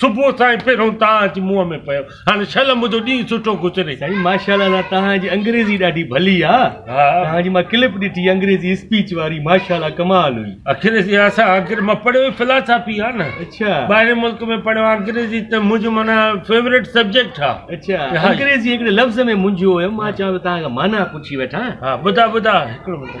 صبح سائين پهريون تان اچ منهن ۾ پيو هاڻي شل منهنجو ڏينهن سٺو گذري. سائين ماشاءالله الله توهان جي انگريزي ڏاڍي ڀلي آ توهان جي مان ڪلپ ڏٺي انگريزي اسپيچ واري ماشاءالله ڪمال هئي. اکريزي اسان آخر مان پڙهيو ئي فلاسافي آ نه اڇا ٻاهرين ملڪ ۾ پڙهيو آ انگريزي ته منهنجو معنيٰ فيوريٽ سبجيڪٽ آ اڇا انگريزي هڪڙي لفظ ۾ منجهيو هيم مان چوان پيو توهان کان معنيٰ پڇي وٺان ها ٻڌاء ٻڌاء هڪڙو منٽ.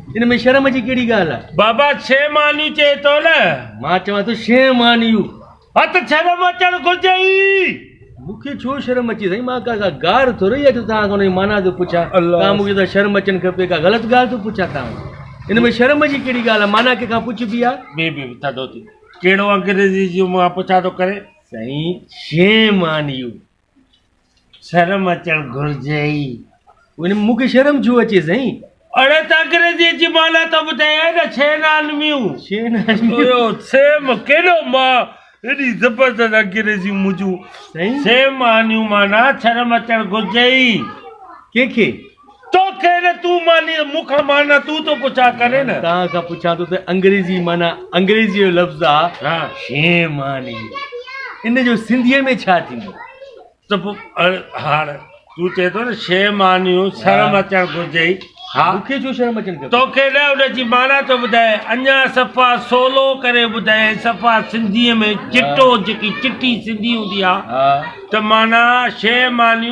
ان ۾ شرم جي ڪهڙي ڳالهه آهي؟ بابا ڇهه مانيون چئين ٿو نه؟ مان چوان ٿو شين مانيون. ها ته شرم اچڻ گهرجي ئي. مون کي ڇو شرم اچي سائين مان ڪا ڪا گار ٿورئي آهي جو توهان کان ان جي معنيٰ ٿو پڇان. توهان مون کي چئو ٿا شرم اچڻ کپي ڪا غلط ڳالهه ٿو پڇان توهان کان. ان ۾ شرم جي ڪهڙي ڳالهه آهي معنيٰ ڪنهن کان پڇبي آهي. بيهه بيهه ٿڌو ٿي. ڪهڙو انگريزي جي مان پڇا ٿو ڪرين. سائين شين مانيون. شرم اچڻ گهرجي ئي. وڃ مون کي شرم ڇو اچي سائين. اڙي ته انگريزيء جي معنيٰ ته ٻڌايائين نه شين آنميون. شين آنميون. اهو سيم ڪيڏو مان ايڏي زبردست انگريزيون منهنجون. سائين. سيم آنيون معنيٰ شرم اچڻ گهرجي ئي. ڪنهن کي؟ تو ڪير اي تون ماني مون کان مانا تون ٿو پڇا ڪرين نه. توهان کان پڇان ٿو ته انگريزي مانا انگريزي جو لفظ آ شين ماني ان جو سنڌي ۾ ڇا ٿيندو. ته پو هاڻ تون چئي ٿو نه شين ماني شرم اچڻ گهرجي ها مون کي ڇو شرم اچڻ کپي تو کي نه ان جي مانا ٿو ٻڌايان اڃا صفا سولو ڪري ٻڌايان صفا سنڌي ۾ چٽو جيڪي چٽي سنڌي هوندي آ ته مانا شين ماني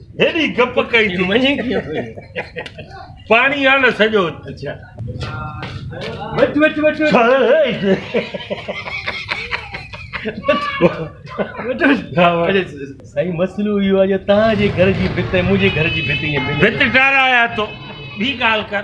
هيڏي گپ ڪئي ٿي پاڻي آ نه سڄو سائين مسئلو اهو آهي جو توهان جي گهر جي ڀت ۽ منهنجي گهر جي ڀت ائين ملي ڀت ٽارايا تو ٻي ڳالهه ڪر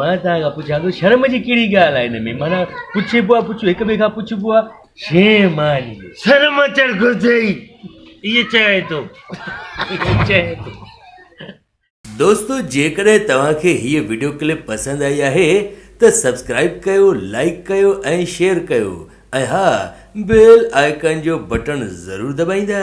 مان توهان کان پڇان ٿو شرم جي ڪهڙي ڳالهه آهي ان ۾ معنيٰ پڇبو آهي پڇو هڪ ٻئي کان پڇبو آهي شيم آهي ان ۾ شرم اچڻ گهرجي ايئن چئي ٿو ايئن چئي ٿو دوستو جيڪڏهن توهان کي هيء وڊيو ڪلپ پسند آئي آهي ته سبسڪرائب ڪيو لائيڪ ڪيو ۽ شيئر ڪيو ۽ ها بيل آئيڪان جو بٽڻ ضرور دٻائيندا.